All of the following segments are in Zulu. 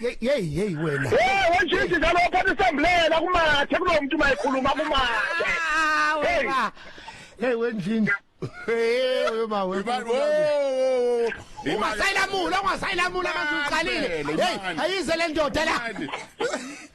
Yey yey yey wena. Hey wajiji njalo phatha isambulela kumathe kunomuntu mayikhuluma kumathe. Ah wena. Hey wenjini. Hey uyoma wena. Ungasayilamula ungasayilamula manje uqalile. Hey ayize le ndoda la.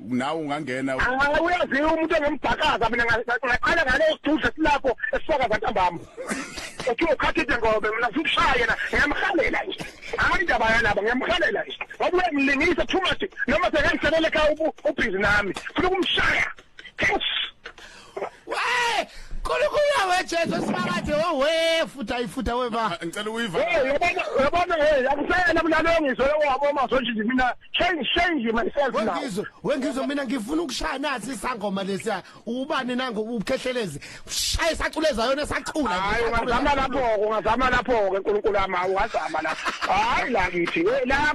nawe ungangena hayi uyaziwa umuntu engembhakaza mina ngaqala ngale sidudla silapho esifakaza ntambama uthi ukhathide ngobe mina ngikushaya yena ngiyamhalela nje hayi indaba yalaba ngiyamhalela nje ngoba uyangilingisa too much noma sekangiselela ekhaya ubhizi nami funa ukumshaya Wee! Nkulunkulu weJesu simakade owe futa ifuta weba. Ngicela uyiva. Hey, yabona yabona hey, akusayena mina lo ngizwe wabo masonje nje mina change change myself now. Wengizwe, wengizwe mina ngifuna ukushaya nathi isangoma lesiya. Ubani nango ukhehlelezi. Shaya isaculeza yona esacula. Hayi ungazama lapho, ungazama lapho ke uNkulunkulu amawu, ungazama lapho. Hayi la kithi, la